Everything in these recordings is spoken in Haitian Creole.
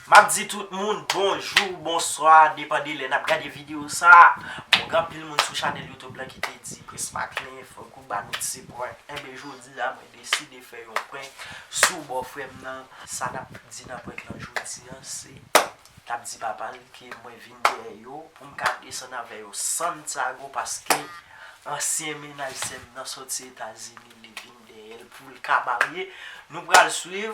Map di tout moun bonjou, bonswa depan de lè nap gade video sa, bon gen anpil moun sou chanèl YouTube lan ki te di Prismaklin fòk ou ba nou ti prank, enben jodi a mwen deside fè yon prank sou bòfrèm nan, sa nap di nan prank lan jodi an se lap di papal ke mwen vin dèyè yo poum ka desann avè yo Santiago paske ansyen mennaj sèm nan sòti etazini li vin dèyèl poul ka marye, nou pral swiv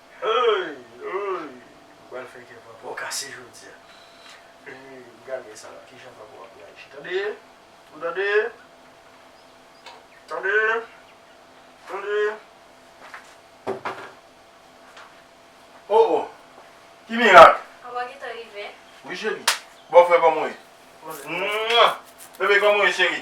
Heyy heyy ou pral fè kè papaw kase jodia heyy gade sa kijan papaw ap reyaji tande ou tande tande tande oh oh ki mirak. Papa gentan rive. Wi cheri bòfrè kòman ou ye? Humm bebe kòman ou ye cheri?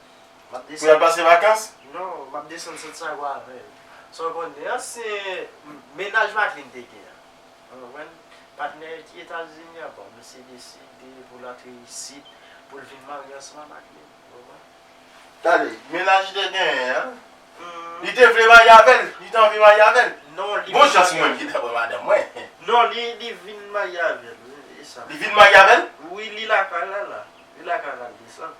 Pou yal pase vakans? Non, m ap desann Santiago avè l. Sa w konnen an, se mennaj Madeline te gen an. Ou konprann? Patnè Etazini an, bon, misye deside pou l antre isit, pou l vin marye ansanm ak Madeline. Ou konprann? Tande, mennaj li te genyen an, li te vle marye avè l? Li te anvi marye avè l? Non, li. Bon chans mwen ki ta pran madanm mwen. Non, li vin marye avè l, e sa? Li vin marye avè l? Wi, li lakay la la. Li lakay la, l desann.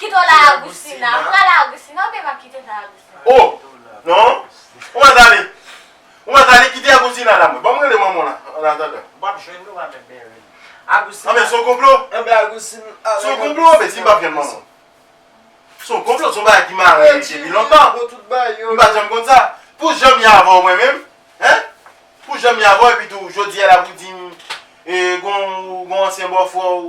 Kito la Agustina. M pral Agustina oubyen m ap kite nan Agustina? Oh! Non! Ou mèt ale. Ou mèt ale kite Agustina la mwen. Banm rele manman w la an atandan. W ap jwenn nou avèk Berlin. Agustina. Anben son konplo? Anben Agustina ale. Son konplo anben si m pap jwenn manman w? Son konplo son bagay ki mare depi lontan. M pat janm konn sa. Pou jan m ye avè w mwen menm. Hein? Pou jan m ye avè w epi tou jodi a la pou di m e gon gon ansyen bòfrè w